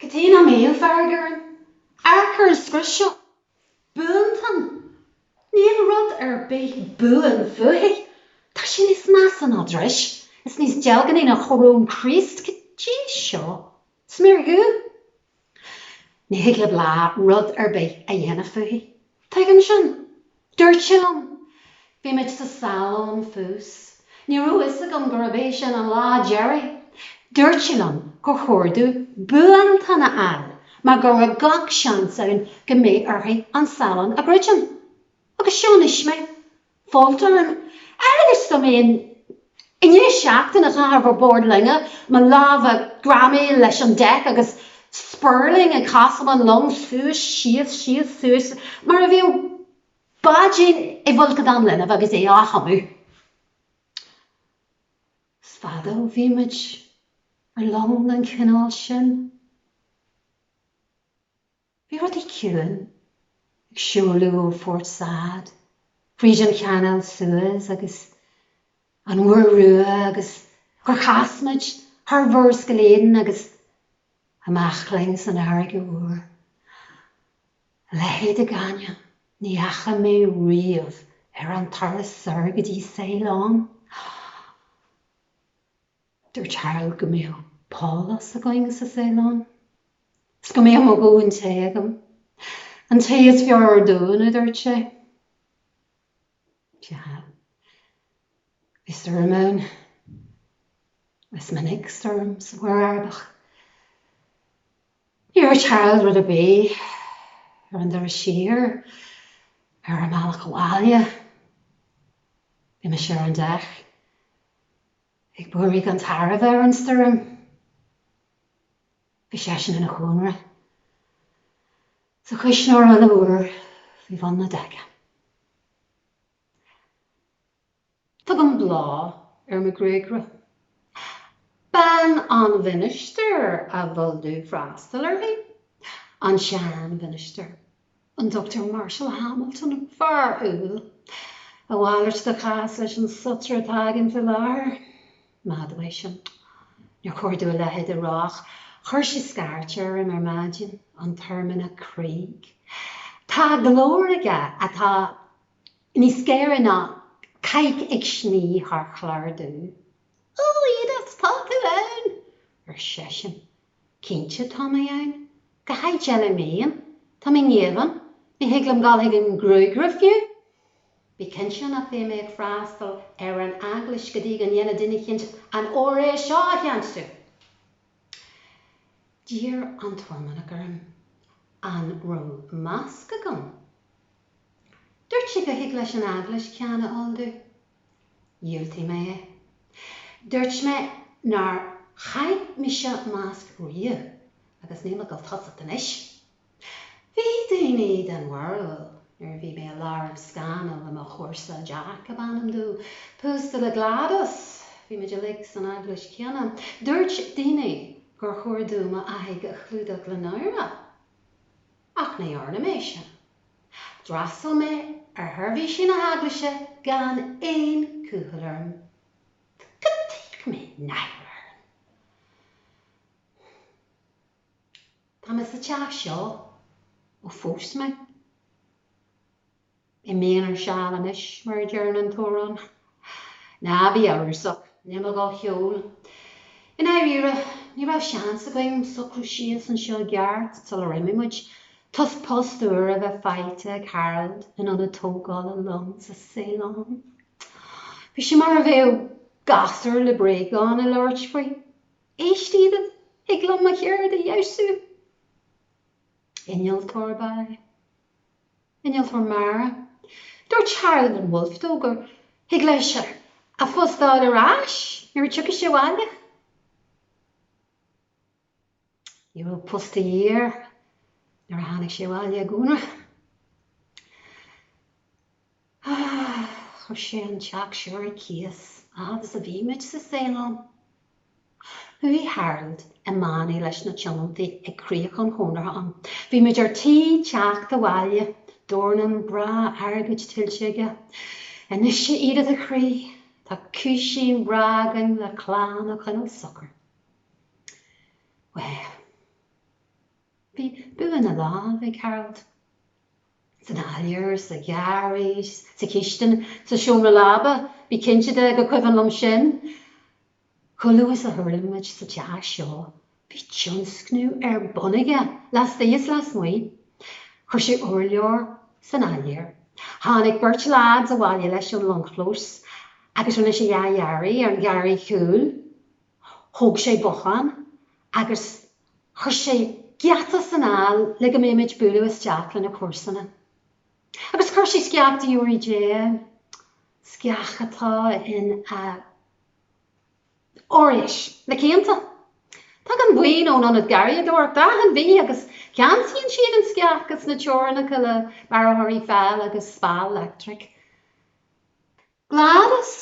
Cad chuige nach mbeadh fearg orainn? Amharc ar an scrios seo. Buantonn? Níl rud ar bith buan fúithi. Tá sí níos measa ná dris, is níos deilgní ná choróin Chríost. Cad é seo? Sméar dhubh? Ní thig le Bláth rud ar bith a dhéanamh fúithi. Tuigim sin. Dúirt sí liom, bhí muid sa salon fós. Ní raibh fhios agam gurab é sin an lá deiridh. Dúirt sí liom gur chóir domh buantonn a fháil mar go raibh gach seans ann go mbeadh uirthi an salon a dhruidim. Agus seo anois mé, folt orm amhail is dá mbeinn I ndiaidh seachtain a chaitheamh ar bord loinge, mo lámha greamaithe leis an deic agus spéirling ag casadh an long suas síos síos suas mar a bheadh báidín i bhfolcadán linbh agus é á thumadh. Is fada ó bhí muid ar long den chineál sin. Bhí rudaí ciúin ag seoladh ó Phort Said, fríd an Chanáil Suez agus An Mhuir Rua agus gur chas muid thar Mhurascaill Aden agus amach linn san Fharraige Mhór. A leithéid de ghaineamh ní fhaca mé riamh ar an turas soir go dtí Ceylon. Dúirt Harold go mbeadh pálás againn sa Ceylon, 's go mbeadh mo dhóthain tae agam, an tae is fearr ar domhan, a dúirt sé. Sea, bhí stoirm ann. Is minic stoirm sa Mhuir Arabach. Níor dhúirt Harold rud ar bith ar an dturas siar. Ar an mbealach abhaile, bhí mise ar an deic. Ag búirthigh an tairbh ar an stoirm. Bhí seisean in a chónra sa chuisneoir an-fhuar faoi bhun na deice. Tugann Bláth ar mo ghriogaire. Bean an Mhinistir a bhfuil tú ag freastal uirthi, an sean-Mhinistir. an Dr. Marshall Hamilton, fear umhal. A mhalairt de chás leis an sotaire atá againn faoi láthair. Maith domh é sin, níor chóir domh a leithéid a rá ach chuir sé scairt orm ar maidin, an tOirmhinneach Craig. Tá glór aige atá níos géire ná cailc ag sní thar chlár dubh. Ó, Edith, tá tú ann! ar seisean. Cinnte tá mé ann. Cá háit eile a mbeinn. Tá mé i ngéibheann. Ní thig liom dul chuig an gruagaire fiú. Bí cinnte nach mbeidh mé ag freastal ar an Eaglais go dtí go ndéana duine eicínt an óráid seo a cheansú. D'iarr an tOirmhinneach orm an raibh masc agam. Dúirt sé go thig leis an Eaglais ceann a ordú. Dhiúltaigh mé é. Dúirt mé nár chaith mise masc riamh agus níl mé ag dul tosacht anois. Bhí daoine den bharúil nuair a bhí mé i lár scannail le mo chomharsa, Jack ab ainm dó, pósta le Gladys, bhí muid uilig san eaglais céanna, dúirt daoine gur chóir dom m'aghaidh a chlúdach le náire. Ach ní dhearna mé sin. D'fhreastal mé ar sheirbhísí na hEaglaise gan aon chúthail orm. Cad chuige a mbeadh náire orm. Tá mé sa Teach seo ó phós mé. I m'aonar seal anois, mar a deireann an t-amhrán. Ná bí amhrasach, níl mé dhá cheol. I ndáiríre, ní raibh seans againn socrú síos anseo i gceart sular imigh muid, toisc post úr a bheith faighte ag Harold in ionad tógála long sa Ceylon. Bhí sé mar a bheadh gasúr le bréagán ag labhairt faoi, Éist, Edith, thig liom mo cheird a fheabhsú! Innealtóir ab ea é. Innealtóir mara. Dúirt Harland and Wolff dó gur thig leis a phost a fháil ar ais nuair a tiocfaidh sé abhaile. Ní raibh post a dhíth air nuair a tháinig sé abhaile i gcónra. Chuir sé an teach seo ar cíos agus a bhí muid sa Ceylon. Chuaigh Harold i mbannaí leis na tionóntaí ag críoch an chonartha ann. Bhí muid ar tí teacht abhaile, dornán breá airgid tuillte aige. Anois, a Edith, a chroí, tá cúisín breá againn le clann a choinneáil socair. Bhuel. Bhí bua na lámh ag Harold. San áiléar, sa gharraí, sa chistin, sa seomra leaba, bí cinnte de go cuimhin liom sin! Chomh luath is a thuirling muid sa teach seo bhí tionscnamh ar bun aige laistigh is lasmuigh. Chuir sé urlár san áiléar. Tháinig beirt leaids abhaile leis ón longchlós agus rinne sé athdhearadh ar an gharraí cúil. Thóg sé bothán agus chuir sé geata san fhál le go mbeadh muid ag bualadh isteach le na comharsana. Agus chuir sé sceach deoraí Dé ann. Sceach atá in a leis na cianta. Tagann buíon ón Ionad Garraíodóireachta achan mhí agus ceansaíonn siad an sceach is na teorainneacha le bearrthóirí fáil agus speal leictreach. Gladys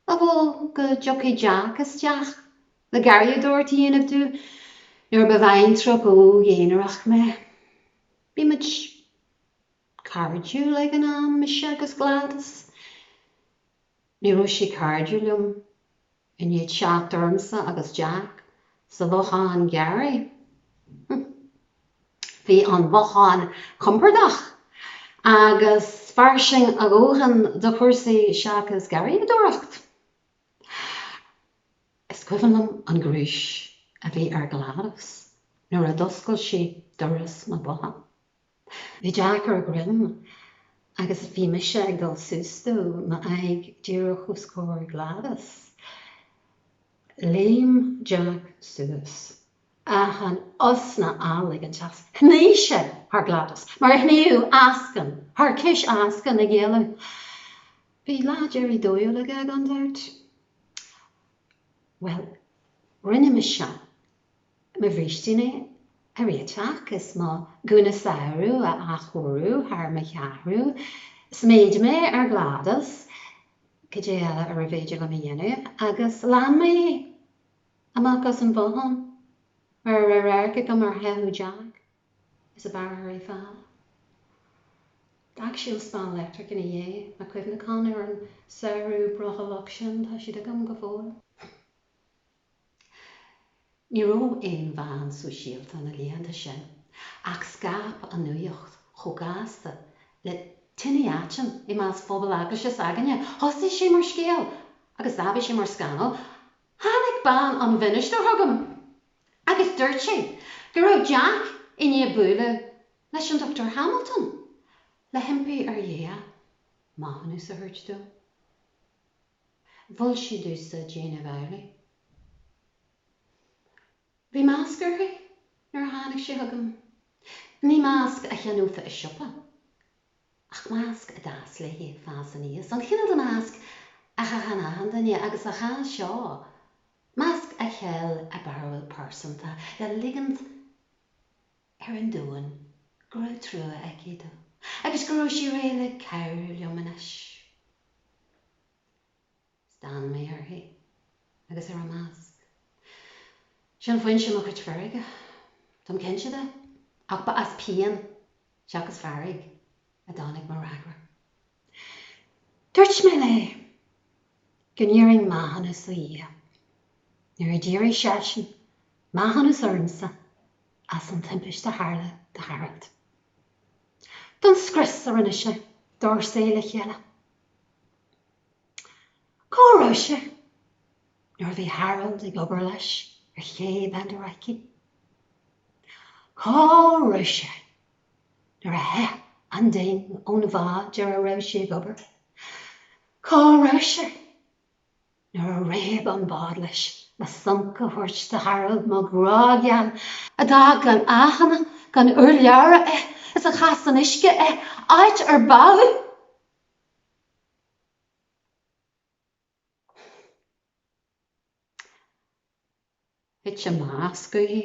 a mhol go dtiocfadh Jack isteach le garraíodóireacht a dhéanamh domh nuair ba bhaintreach óg aonarach mé. Bhí muid cairdiúil ag an am, mise agus Gladys. Ní raibh sí cairdiúil liom i ndiaidh theacht ormsa agus Jack sa bhothán garraí. Bhí an bhothán compordach agus fairsing a dhóthain do chúrsaí seachas garraíodóireacht. Is cuimhin liom an ghnúis a bhí ar Gladys nuair a d'oscail sí doras na botha. Bhí Jack ar a dhroim agus bhí mise ag dul suas dó, m'aghaidh díreach os comhair Gladys. Léim Jack suas. Achan osna á ligint as, shnigh sé thar Gladys mar a shnífeadh eascann thar cis eascann ag éalú. Bhí lá deiridh dóigh aige gan dabht. Bhuel, rinne mise Mo bhrístín a réiteach is mo ghúna samhraidh a athchóiriú thar mo cheathrú. Sméid mé ar Gladys, cad é eile arbh fhéidir liom a dhéanamh? agus lean mé é. Amach as an bhothán mar a raibh radharc agam ar theitheadh Jack is a bhearrthóirí fáil. D'fhág sé an speal leictreach ina dhiaidh. Na cuimhneacháin ar an samhradh brothallach sin, tá siad agam go fóill. Ní raibh aon mheán sóisialta na laethanta sin ach scaip an nuacht chomh gasta le tine aitinn i measc phobal Eaglaise s'againne. Thosaigh sé mar scéal agus d'aibigh sé mar scannal. Tháinig bean an mhinistir chugam agus dúirt sí go raibh Jack i ndiaidh bualadh leis an Dr Hamilton le himpí ar Dhia maithiúnas a thabhairt dó. Mhol sí domhsa déanamh amhlaidh. Bhí masc uirthi nuair a tháinig sí chugam. Ní masc a cheannófa i siopa, ach masc a d'fhás léithi ag fás aníos, an cineál de mhasc a chaitheann achan duine, agus an ceann seo, masc a cheil a barúil pearsanta le ligint. ar an domhan go raibh truagh aici domh agus go raibh sí réidh le cabhrú liom anois. Stán mé uirthi agus ar a masc. Sin foinse mo chuid feirge, táim cinnte de, ach ba as pian seachas fearg a dtáinig mo fhreagra. Dúirt mé léi go n-iarrfainn maithiúnas ar Dhia. Nuair a d'iarrfadh seisean maithiúnas ormsa as an timpist a tharla do Harold. Don scrios a rinne sé dár saol le chéile. Cá raibh sé nuair a bhí Harold ag obair leis ar Ché Benderaiki? Cá raibh sé nuair a theith an ding ón bhád ar a raibh sé ag obair, cá raibh sé nuair a réab an bád leis le sonc a thabhairt do Harold, mo ghrá geal, a d'fhág gan aithne gan urlabhra é is a chaith san uisce é áit ar bádh é? Thit a masc uaithi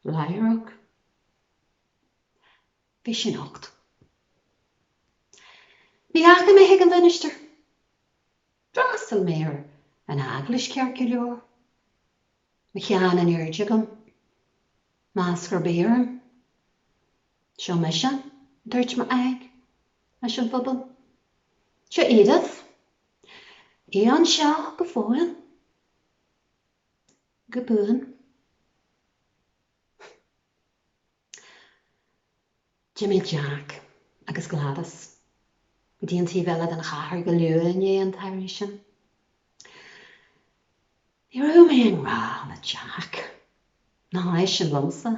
láithreach. Bhí sí nocht. Ní dheachaigh mé chuig an mhinistir. D'fhreastal mé ar an eaglais ceart go leor. Mo cheann in airde agam. Masc ar bith orm. Seo mise, a dúirt m'aghaidh leis an phobal. Seo Edith. í anseo go fóill. Go buan. D'imigh Jack agus Gladys go dtí an taobh eile den chathair go luath i ndiaidh an tsamhraidh sin. Ní raibh mé i ngrá le Jack, ná eisean liomsa.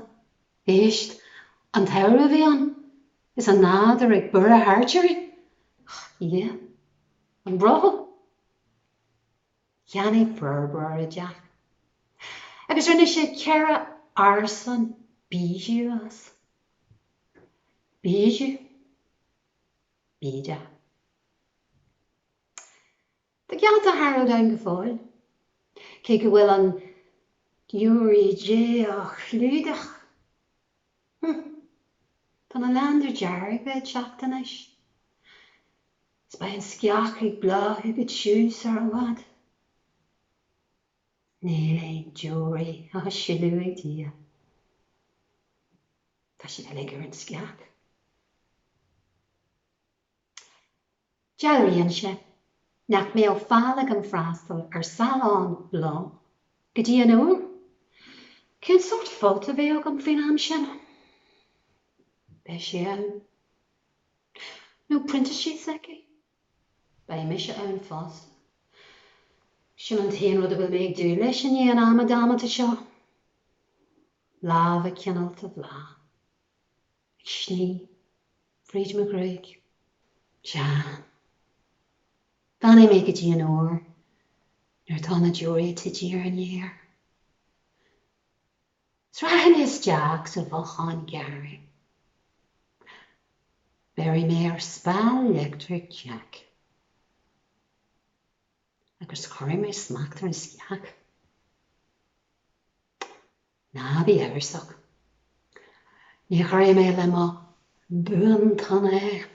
Éist, an tsamhradh a bhí ann, is an nádúr ag borradh thart orainn, a Dhia, an brothall. Cheannaigh forbróir é Jack, agus rinne sé ceithre árasán bijou as. Bijou. Bídeach. Tá geafta Harold ann go fóill, cé go bhfuil an deora Dé á chlúdach. Humph. Tá na laindéir dhearga ag teacht anois, is beidh an sceach ag bláthú go tiugh sar i bhfad. Níl aon deora á sileadh ag Dia. Tá siad uilig ar an sceach. Dealraíonn sé nach mbeadh faill agam freastal ar salón Bhláth go dtí an uair. Cén sórt folt a bheadh agam faoin am sin? Beidh sé ann. Nó prionta síos aici. Beidh mise ann fosta. Sin an t-aon rud a bhfuil mé ag dúil leis i ndiaidh an ama damanta seo. Lámha cineálta Bhláth. Ag sní fríd mo ghruaig. Jean. Fanfaidh mé go dtí an uair nuair atá na deora tite ar an fhéar. Rachaidh mé isteach sa bhothán garraí. Béarfaidh mé ar speal leictreach Jack. Agus cuirfidh mé smacht ar an sceach. Ná bí amhrasach. Ní chuirfidh mé le mo buantonn é.